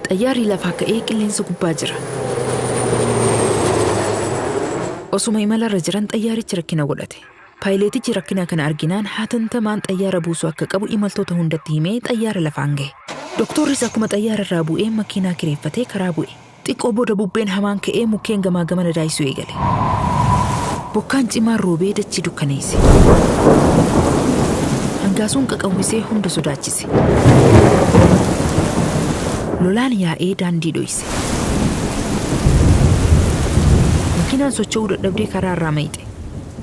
Xayyaarri lafaa ka'ee qilleensa gubbaa jira. Osuma imalarra jiran xayyaarichi rakkina godhate. Paayileetichi rakkina kana arginaan hatantamaan xayyaara buusuu akka qabu imaltoota hundatti himee xayyaara lafaan gahe. Doktorris akkuma xayyaara irraa bu'een makiinaa kireeffatee karaa bu'e. Xiqqoo booda bubbeen hamaan ka'ee mukkeen gamaa gamana daayisuu eegale. Bokkaan cimaan roobee dachii dukkaneesse. Hangaasuun qaqawwisee hunda sodaachise. Lolaan yaa'ee daandii dhoyse. Makiinaan socho'uu dadhabdee karaa irraa mayxe.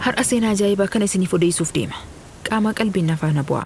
Har'a seenaa ajaa'ibaa kana isiniif odeessuuf deema. Qaamaa qalbiin na faana bu'aa.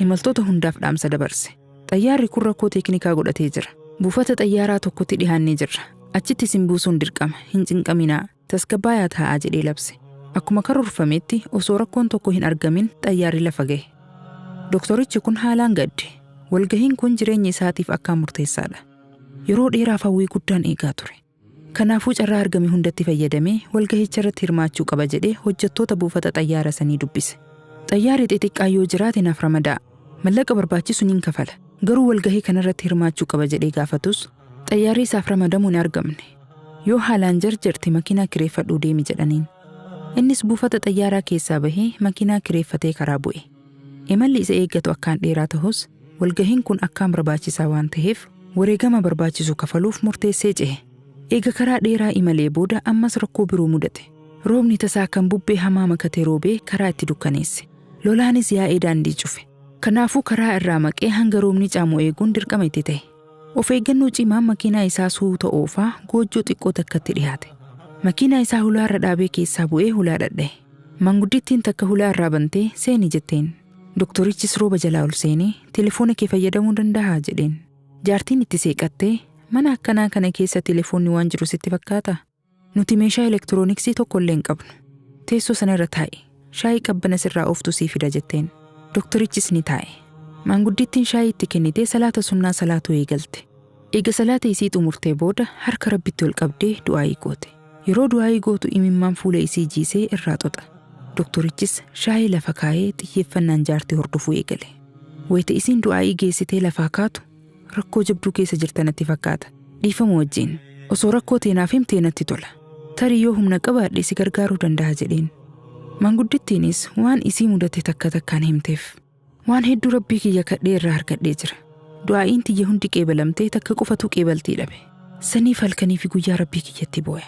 Imaltoota hundaaf dhaamsa dabarse. Xayyaarri kun rakkoo teeknikaa godhatee jira. Buufata xayyaaraa tokkotti dhihaannee jirra. Achitti isin buusuun dirqama. Hin cinqaminaa. Tasgabbaayaa taa'aa jedhee labse. Akkuma karoorfametti osoo rakkoon tokko hin argamin xayyaarri lafa gahe. Doktorichi kun haalaan gadde. Walgahiin kun jireenya isaatiif akkaan murteessaadha. Yeroo dheeraaf hawwii guddaan eegaa ture. Kanaafuu carraa argame hundatti fayyadamee walgahicharratti hirmaachuu qaba jedhee hojjattoota buufata xayyaara sanii dubbise. Xayyaarri xixiqqaa yoo jiraate naaf ramada'a. Mallaqa barbaachisu nin kafala. Garuu walgahii kanarratti hirmaachuu qaba jedhee gaafatus xayyaarri isaaf ramadamu hin argamne. Yoo haalaan jarjarte makiinaa kireeffadhuu deemi jedhaniin. Innis buufata xayyaaraa keessaa bahee makiinaa kireeffatee karaa bu'e. Imalli isa eeggatu akkaan dheeraa tahus, walgahiin kun akkaan barbaachisaa waan taheef wareegama barbaachisu kafaluuf murteessee cehe. Eega karaa dheeraa imalee booda ammas rakkoo biroo mudate. Roobni tasaa kan bubbee hamaa makate roobee karaa itti dukkaneesse. Lolaanis yaa'ee daandii cufe. Kanaafuu karaa irraa maqee hanga roobni caamu eeguun dirqama itti tahe. Of eeggannoo cimaan makiinaa isaa suuta oofaa goojjoo xiqqoo takkatti dhihaate. Makiinaa isaa hulaa irra dhaabee keessaa bu'ee hulaa dhadhaye. Manguddittiin takka hulaa irraa bantee seeni jetteen. Doktorichis rooba jalaa ol seenee telefoona kee fayyadamuu dandahaa jedheen. Jaartiin itti seeqattee mana akkanaa kana keessa telefoonni waan jiru sitti fakkaataa? Nuti meeshaa elektirooniksii tokko illee hin qabnu. Teessoo sana irra taa'i. Shaayii qabbana sirraa ooftu sii fida jetteen. Doktorichis ni taa'e. Maanguddittiin shaayii itti kennitee salaata sunnaa salaatuu eegalte. Eega salaata isii xumurtee booda harka Rabbitti ol qabdee du'aa'ii goote. Yeroo du'aa'ii gootu imimmaan fuula isii jiisee irraa xoxa. Doktorichis shaayii lafa kaayee xiyyeeffannaan jaartii hordofuu eegale. Wayita isiin du'aa'ii geessitee lafaa kaatu Rakkoo jabduu keessa jirta natti fakkaata. Dhiifama wajjin. Osoo rakkoo tee naaf himtee natti tola. Tarii yoo humna qabaadhe si gargaaruu dandaha jedheen. Manguddittiinis waan isii mudate takka takkaan himteef. Waan hedduu Rabbii kiyya kadhee irraa argadhee jira. Du'aa'iin tiyya hundi qeebalamtee takka qofatuu qeebaltii dhabe. Saniif halkanii fi guyyaa Rabbii kiyyatti booya.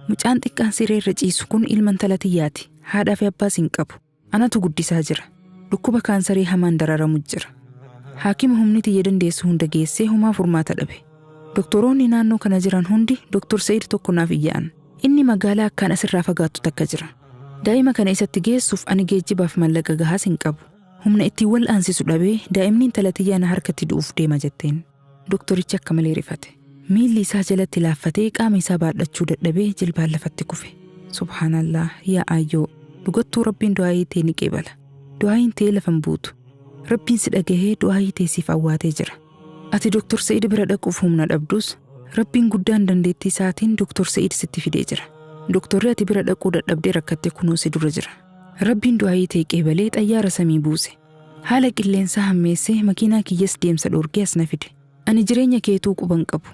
Mucaan xiqqaan siree irra ciisu kun ilma intala tiyyaati. Haadhaa fi abbaas hin qabu. Anatu guddisaa jira. Dhukkuba kaansarii hamaan dararamu jira. Haakima humni tiyya dandeessu hunda geessee homaa furmaata dhabe. Doktoroonni naannoo kana jiran hundi Doktor Sa'id tokko naaf iyya'an. Inni magaalaa akkaan asirraa fagaattu takka jira. Daa'ima kana isatti geessuuf ani geejjibaaf mallaqa gahaas hin qabu. Humna ittiin wal'aansisu dhabee daa'imni intala tiyyaa na harkatti du'uuf deema jetteen. Doktorichi akka malee rifate. Miilli isaa jalatti laaffatee qaama isaa baadhachuu dadhabee jilbaan lafatti kufe. Subhaanallah yaa aayyoo dhugattuu rabbiin du'aayii tee ni qeebala. Du'aayiin tee lafan buutu. Rabbiin si dhagahee du'aayii tee siif awwaatee jira. Ati Doktor Sa'id bira dhaquuf humna dhabdus rabbiin guddaan dandeettii isaatiin Doktor Sa'id sitti fidee jira. Doktorri ati bira dhaquu dadhabdee rakkatte kunoo si dura jira. Rabbiin du'aayii tee qeebalee xayyaara samii buuse. Haala qilleensaa hammeessee makiinaa kiyyas deemsa dhoorgee as na fide. Ani jireenya keetuu quba hin qabu.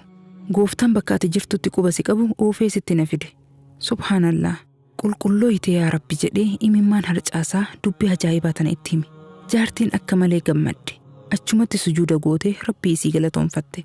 Gooftaan bakka ati jirtutti quba si qabu oofee sitti na fide. Subhaan Allaah! Qulqullooyte yaa Rabbi jedhee imimmaan harcaasaa dubbii ajaa'ibaa tana itti hime. Jaartiin akka malee gammadde. Achumatti sujuuda gootee Rabbii isii galatoomfatte.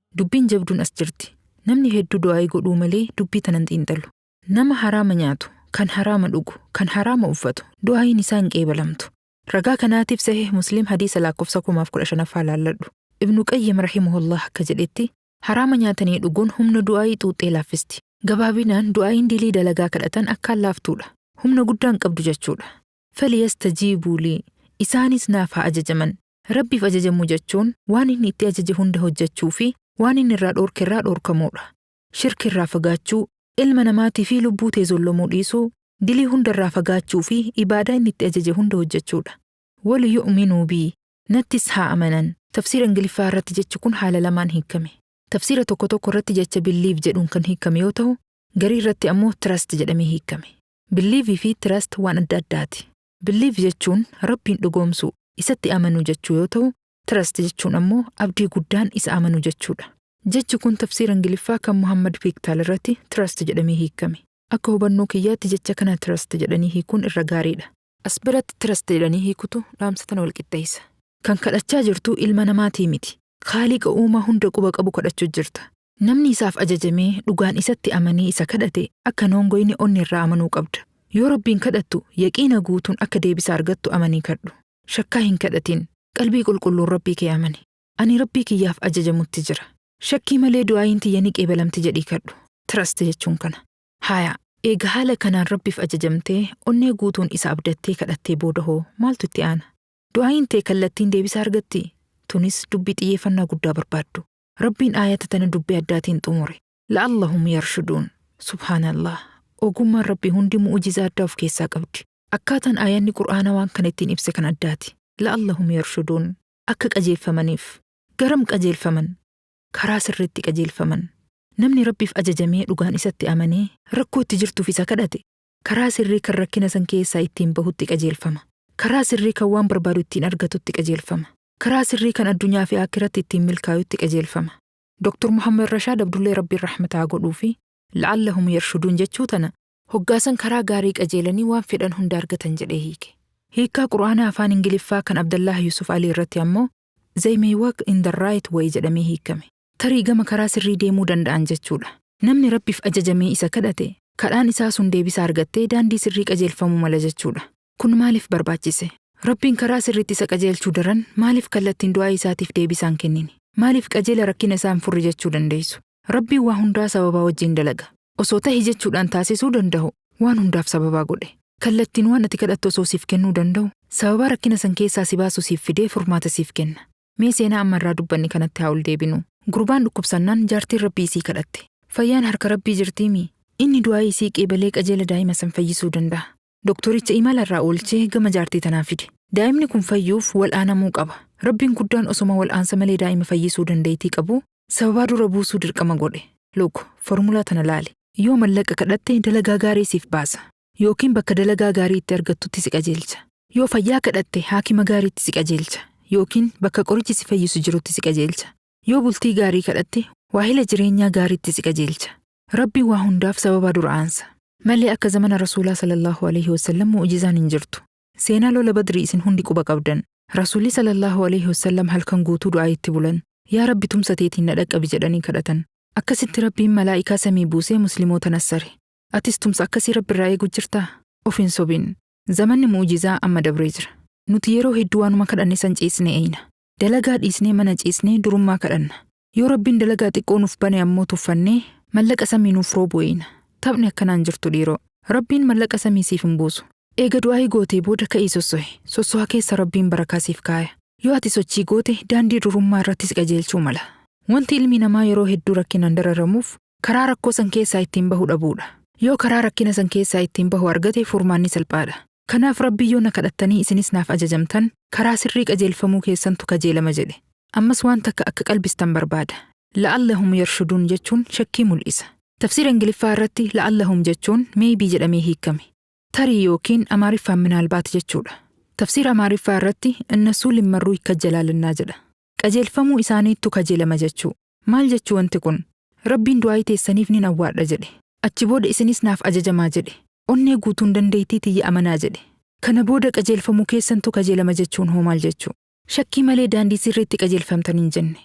Dubbiin jabduun as jirti. Namni hedduu du'aa'ii godhuu malee dubbii tanan xiinxalu. Nama haraama nyaatu, kan haraama dhugu, kan haraama uffatu, du'aa'iin isaa hin qeebalamtu. Ragaa kanaatiif Sahiih Muslim hadiisa laakkofsa 1015ffaa laalladhu. Ibnu Qayyim rahimahullaah akka jedhetti, haraama nyaatanii dhuguun humna du'aa'ii xuuxxee laaffisti. Gabaabinaan du'aa'iin dilii dalagaa kadhatan akkaan laaftuudha. Humna guddaa hin qabdu jechuudha. Faliyastajiibuu lii. Isaanis naaf haa ajajaman. Rabbiif ajajamuu jechuun waan inni itti ajaje hunda hojjachuu fi waan inni irraa dhoorke irraa dhoorkamuudha. Shirki irraa fagaachuu, ilma namaatii fi lubbuu tee zollomuu dhiisuu, dilii hunda irraa fagaachuu fi ibaadaa inni itti ajaje hunda hojjachuudha. Waliyu'minuu bii, Nattis haa amanan. Tafsiira Ingiliffaa irratti jechi kun haala lamaan hiikkame. Tafsiira tokko tokko irratti jecha believe jedhuun kan hiikkame yoo tahu, garii irratti ammoo trust jedhamee hiikkame. Believe fi trust waan adda addaati. Believe jechuun Rabbiin dhugoomsuu, isatti amanuu jechuu yoo ta'u, trust jechuun ammoo abdii guddaan isa amanuu jechuudha. Jechi kun tafsiira Ingiliffaa kan Muhammad Piiktaal irratti trust jedhamee hiikkame. Akka hubannoo kiyyaatti jecha kana trust jedhanii hiikuun irra gaariidha. As biratti trust jedhanii hiikutu dhaamsa tana wal qixxeessa. Kan kadhachaa jirtu ilma namaatii miti. Khaaliqa uumaa hunda quba qabu kadhachuu jirta. Namni isaaf ajajamee dhugaan isatti amanee isa kadhate akka hin hongoyne onneerraa amanuu qabda. Yoo Rabbiin kadhattu yaqiina guutuun akka deebisa argattu amanii kadhu. Shakkaa hin kadhatin. Qalbii qulqulluun Rabbii kee amani. Ani Rabbii kiyyaaf ajajamutti jira. Shakkii malee du'aayiin tiyya ni qeebalamti jedhii kadhu. Trust jechuun kana. Haaya, eega haala kanaan Rabbiif ajajamtee onnee guutuun isa abdattee kadhattee booda hoo maaltu itti aana? Du'aayiin tee kallattiin deebisa argattii? Tunis dubbii xiyyeeffannaa guddaa barbaaddu. Rabbiin aayata tana dubbii addaatiin xumure. La'allahum yarshuduun. Subhaanallah. Ogummaan Rabbii hundi mu'ujizaa addaa of keessaa qabdi. Akkaataan aayanni Qur'aanaa waan kana ittiin ibse kan addaati. La'allahum yarshuduun. Akka qajeelfamaniif. Garam qajeelfaman? Karaa sirriitti qajeelfaman. Namni Rabbiif ajajamee dhugaan isatti amanee rakkoo itti jirtuuf isa kadhate, Karaa sirrii kan rakkina san keessaa ittiin bahutti qajeelfama. Karaa sirrii kan waan barbaadu ittiin argatutti qajeelfama. Karaa sirrii kan addunyaa fi aakhiratti ittiin milkaayutti qajeelfama. Dr. Muhammad Rashaad Abdullee Rabbiin rahmata haa godhuufi, La'allahum yarshuduun jechuu tana, Hoggaa san karaa gaarii qajeelanii waan fedhan hunda argatan jedhee hiike. Hiikkaa Qur'aanaa Afaan Ingiliffaa kan Abdallaah Yuusuf Alii irratti ammoo They may walk in the right way jedhamee hiikkame. tarii gama karaa sirrii deemuu danda'an jechuudha. Namni Rabbiif ajajamee isa kadhate, kadhaan isaa sun deebisa argattee daandii sirrii qajeelfamuu mala jechuudha. Kun maaliif barbaachise? Rabbiin karaa sirriitti isa qajeelchuu daran maaliif kallattiin du'aayi isaatiif deebisaa hin kennine? Maaliif qajeela rakkina isaa hin furre jechuu dandeessu? Rabbiin waa hundaa sababaa wajjiin dalaga. Osoo tahi jechuudhaan taasisuu dandahu, waan hundaaf sababaa godhe. Kallattiin waan ati kadhattu osoo siif kennuu dandahu, sababaa rakkina san keessaa si baasu siif fidee furmaata siif kenna. Mee seenaa amma irraa dubbanne kanatti haa ol deebinu. Gurbaan dhukkubsannaan jaartiin Rabbii isii kadhatte. Fayyaan harka Rabbii jirtii mii? Inni du'aa'ii isii qeebalee qajeela daa'ima san fayyisuu danda'a. Doktoricha imala irraa oolchee gama jaartii tanaa fide. Daa'imni kun fayyuuf wal'aanamuu qaba. Rabbiin guddaan osoma wal'aansa malee daa'ima fayyisuu dandaytii qabuu sababaa dura buusuu dirqama godhe. Luk. Formula tana laali. Yoo mallaqa kadhatte dalagaa gaarii siif baasa. Yookiin bakka dalagaa gaarii itti argattutti si qajeelcha. Yoo fayyaa kadhatte haakima gaariitti si qajeelcha. Yookiin bakka qorichi si fayyisu jirutti si qajeelcha. Yoo bultii gaarii kadhatte waahila jireenyaa gaariitti si qajeelcha. Rabbiin waa hundaaf sababa dura aansa. Malee akka zamana Rasuulaa sallallaahu aleeyhi wasallam mu'ujizaan hin jirtu. Seenaa lola Badrii isin hundi quba qabdan. Rasuulli sallallaahu aleeyhi wasallam halkan guutuu du'aayitti bulan. Yaa Rabbi tumsa teetiin na dhaqqabi jedhanii kadhatan. Akkasitti Rabbiin malaa'ikaa samii buusee muslimoota nassare. Atis tumsa akkasii Rabbirraa eegu jirtaa? Of hin sobin. Zamanni mu'ujizaa amma dabree jira. Nuti yeroo hedduu waanuma kadhanne san ciisnee eeyna. Dalagaa dhiisnee mana ciisnee durummaa kadhanna. Yoo Rabbiin dalagaa xiqqoo nuuf bane ammoo tuffannee mallaqa samii nuuf roobu eeyna. Taphni akkanaa hin jirtu dhiiroo. Rabbiin mallaqa samii siif hin buusu. Eega du'aa'ii gootee booda ka'ii sossohi. Sossoha keessa Rabbiin barakaa siif kaaya. Yoo ati sochii goote daandii durummaa irratti si qajeelchuu mala. Wanti ilmi namaa yeroo hedduu rakkinaan dararamuuf Karaa rakkoo san keessaa ittiin bahu dhabuudha. Yoo karaa rakkina san keessaa ittiin bahu argate furmaanni salphaadha. Kanaaf Rabbii yoo na kadhattanii isinis naaf ajajamtan, karaa sirrii qajeelfamuu keessantu kajeelama jedhe. Ammas waan takka akka qalbistan barbaada. La'allahum yarshuduun jechuun shakkii mul'isa. Tafsiira Ingiliffaa irratti la'allahum jechuun maybe jedhamee hiikkame. Tarii ykn Amaariffaan minaalbaat jechuudha. Tafsiira Amaariffaa irratti Inna Suulim Marruuy Kajjalaalannaa jedha. Qajeelfamuu isaaniittu kajeelama jechuu. Maal jechuu wanti kun? Rabbiin du'aa'ii teessaniif nin awwaadha jedhe. Achi booda isinis naaf ajajamaa jedhe. Onnee guutuun dandeeytii tiyya amanaa jedhe. Kana booda qajeelfamuu keessantu kajeelama jechuun hoo maal jechuu? Shakkii malee daandii sirriitti qajeelfamtan hin jenne.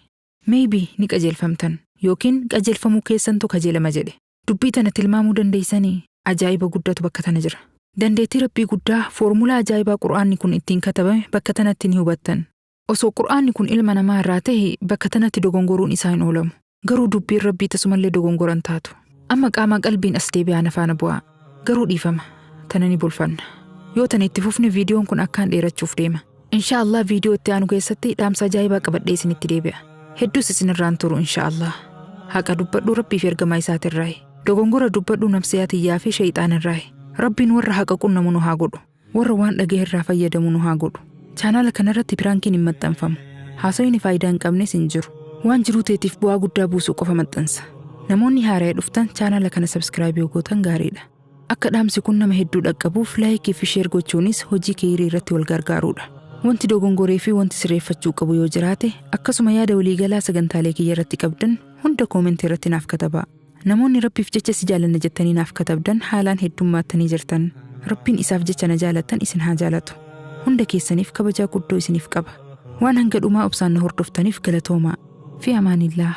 Maybe ni qajeelfamtan. Yookiin qajeelfamuu keessantu kajeelama jedhe. Dubbii tana tilmaamuu dandeeysanii? Ajaa'iba guddatu bakka tana jira. Dandeettii Rabbii guddaa, foormulaa ajaa'ibaa Qur'aanni kun ittiin katabame bakka tanatti ni hubattan. Osoo Qur'aanni kun ilma namaa irraa tahe bakka tanatti dogongoruun isaa hin oolamu. Garuu dubbiin Rabbii tasumallee dogongora hin taatu. Amma qaamaa qalbiin as deebi'aa na faana bu'aa. Garuu dhiifama. Tana ni bulfanna. Yoo tana itti fufne viidiyoon kun akkaan dheerachuuf deema. Inshaa Allah viidiyoo itti aanu keessatti dhaamsa ajaa'ibaa qabadhee isinitti deebi'a. Hedduus isinirraan turu inshaa Allah. Haqa dubbadhu Rabbii fi ergamaa isaatirraayi. Dogongora dubbadhu nafsiyaa tiyyaa fi sheyxaanirraayi. Rabbiin warra haqa qunnamu nu haa godhu. Warra waan dhagahe irraa fayyadamu nu haa godhu. Chaanaala kana irratti piraankiin hin maxxanfamu. Haasoyni faayidaa hin qabnes hin jiru. Waan jiruu teetiif bu'aa guddaa buusu qofa maxxansa. Namoonni haaraya dhuftan chaanaala kana sabskraayib yoo gootan gaariidha. Akka dhaamsi kun nama hedduu dhaqqabuuf laayikii fi sheer gochuunis hojii keeyrii irratti wal gargaaruudha. Wanti dogongoree fi wanti sirreeffachuu qabu yoo jiraate akkasuma yaada waliigalaa sagantaalee kiyya irratti qabdan hunda koomentii irratti naaf katabaa. Namoonni Rabbiif jecha si jaalanna jettanii naaf katabdan haalaan heddummaattanii jirtan. Rabbiin isaaf jecha na jaalattan isin haa jaalatu. Hunda keessaniif kabajaa guddoo isiniif qaba. Waan hanga dhumaa obsaan na hordoftaniif galatoomaa. Fi amaanillaah.